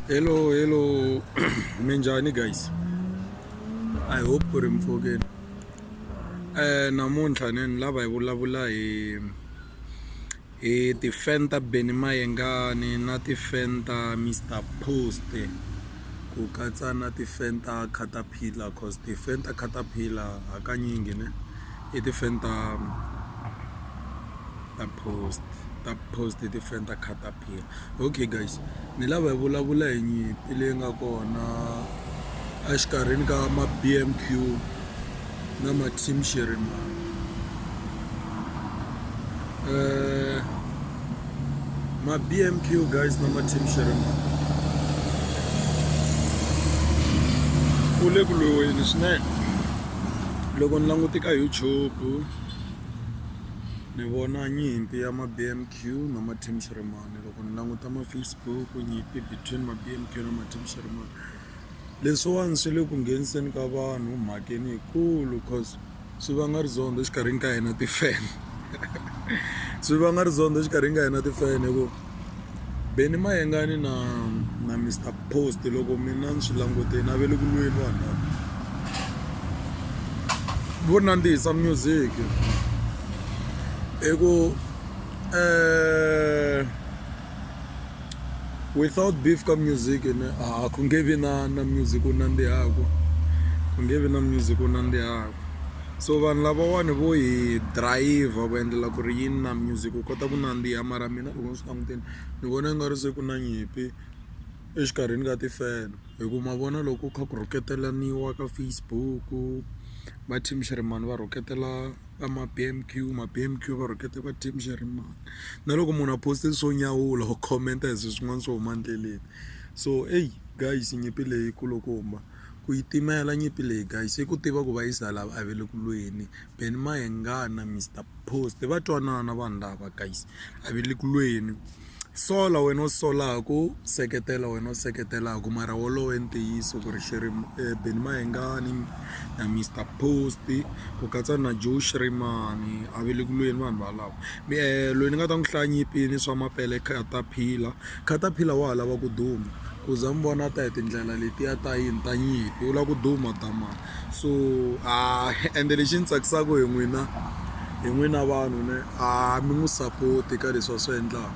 hello hello minjhani guys i hope ku ri mpfhukeni um namuntlha ni ni lava hi vulavula hi hi ti-fan ta beni mayengani na ti-fan ta mr post ku katsa na ti-fan ta catapillar cause ti-fan ta catapillar hakanyingi ne i ti-fan ta ta post ta post i ti-fan ta catapillar phila okay guys ni lava hi vulavula hi nyimpi leyi nga kona exikarhini ka ma b m q na ma team xerimani um eh, ma b m q guys na ma team xerimani ku le ku lwiweni swinene loko ni langute ka youtube ni vona nyimpi ya ma b m q Q na Martin Sheremane loko ni languta ma-Facebook nyimpi between ma-B_M_Q na Martin Sheremane leswiwani swi le ku ngheniseni ka vanhu mhakeni yikulu cause swi vanga rizondho exikarhini ka hina ti-fan swi vanga rizondho exikarhini ka hina ti-fan hi ku Benny Mayengani na na Mister Post loko mina ni swi languteni a ve le ku lweni vanhu lava vo nandzihisa music hi ku eh, without beef ka music ne ah, ku nge vi na na music u nandzihaku ku nge vi na music u nandzihaku so vanhu lavawani vo hi driver ku endlela ku ri yini na music u kota ku nandziha mara mina loko ni swi languteni ni vona nga ri se ku na nyimpi exikarhini ka tifeno hi ku ma vona loko kha ku rhuketelaniwa ka Facebook va team Shirimani va rhuketela. va ma-B_M_Q ma-B_M_Q va rhukete va team Jeremane na loko munhu a post-e swo nyawula or comment hi swilo swin'wana swo huma endleleni so ey guys nyimpi leyi yi kulukumba ku yi timela nyimpi leyi guys i ku tiva ku va yi za lava a va le ku lweni Ben Mayengani na Mister Post va twanana vanhu lava guys a va le ku lweni. sola wena u solaku seketela wena u seketelaka mara wolowo i ntiyiso ku ri xirimo Benny Mayengani na Mister Post ku katsa na Joe Shirimani a va le ku lweni vanhu valavo loyi ni nga ta n'wi hlaya nyimpi ni swa mapele Cartapila Cartapila wa ha lava ku duma ku za mi vona a ta hi tindlela letiya ta yini ta nyimpi u lava ku duma damani so a ende lexi ni tsakisaka hi n'wina hi n'wina vanhu ne a mi n'wi support ka leswi a swi endlaka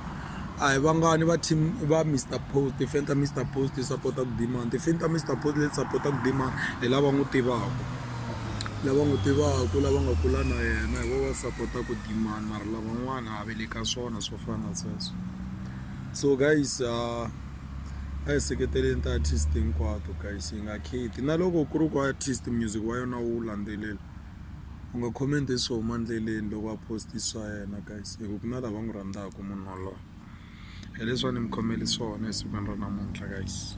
a hi vangani va team va Mister Post tifani ta Mister Post ti sapota ku demand tifani ta Mister Post leti sapota ku demand hi lava n'wi tivaka lava n'wi tivaka lava nga kula na yena hi vona va sapota ku demand mara lavan'wana a va le ka swona swo fana na sweswo so guys . a hi seketeleni ti-artist hinkwato guys hi nga kheti na loko ku ri ku artist music wa yona wu landzelela u nga comment swo huma endleleni loko a post swa yena guys hi ku ku na lava n'wi rhandzaka munhu waloye hi leswi a ni mi khomele swona esikwini ra namuntlha guys.